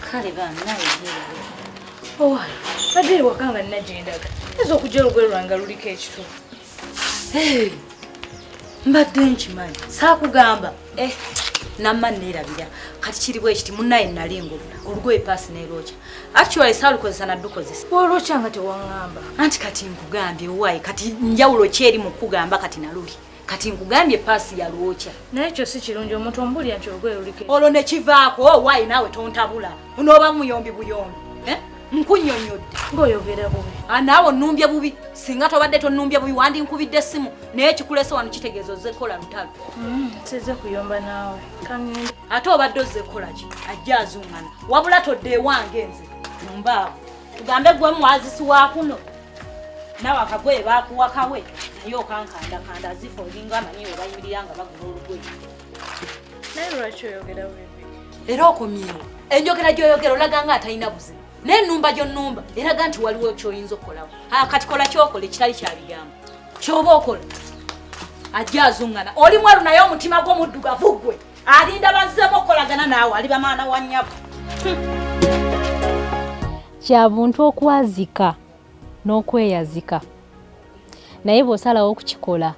kale banaye owala badde ewaka nga nina gyendaga ayinza okujja olugwe lwange luliko ekitu mbadde nkimanyi saakugamba eh, namma neerabira kati kiriwo ekiti munaye nali ngobula olugoye paasi nerwokya actually saalukozesa naddukozesa olwokya nga tewaŋamba anti kati nkugambye owaayi kati njawulo kyeri mu kugamba kati naluli kati nkugambye paasi yalwokya naye ekyo si kirungi omuntu omubulira nti olugoye luliko olwo ne kivaako oh, waayi naawe tontabula onooba muyombi buyombi eh? nkunyonyodde ngaoyogera bubi ah, naawe onumbye bubi singa tobadde tonumbye bubi wandi nkubidde essimu naye ekikulese wano kitegeeza ozze kukola lutalo mm, size kuyomba naawe ate obadde ozze kukolaki ajja azungana wabula todde ewange nze mbaavu tugambe gwe mwazisi wa kuno nawe akagoye bakuwa kawe naye okankandakanda azifa olinga amanyi webayimirira nga bagula olugoye naye lwaki oyogera webi era okomyewo enjogera gyoyogera olaga nga atalina buzibu naye enumba gyonumba eraga nti waliwo kyoyinza okukolawo kati kola kyokola ekitali kyabigambo kyoba okola ajja azungana oli mwalu naye omutima gwomuddugavu gwe alinda bazzemu okukolagana naawe ali bamaana wa nnyabo kya buntu okwazika n'okweyazika naye bw'osalawo okukikola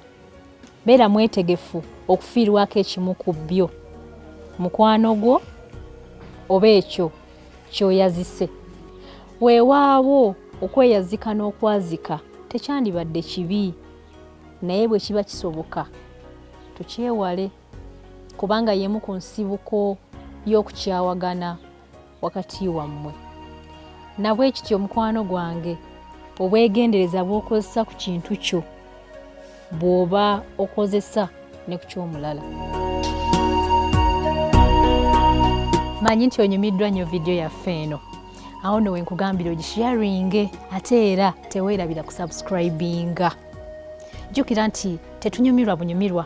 beera mwetegefu okufiirwako ekimu ku byo mukwano gwo oba ekyo kyoyazise weewaawo okweyazika n'okwazika tekyandibadde kibi naye bwe kiba kisoboka tukyewale kubanga y'emu ku nsibuko y'okukyawagana wakati wammwe nabwe kityo mukwano gwange obwegendereza bw'okozesa ku kintu kyo bw'oba okozesa ne ku ky'omulala manyi nti onyumiddwa nnyo vidiyo yaffe eno awo no wenkugambira ogisharinge ate era teweerabira kusubscribinga jjukira nti tetunyumirwa bunyumirwa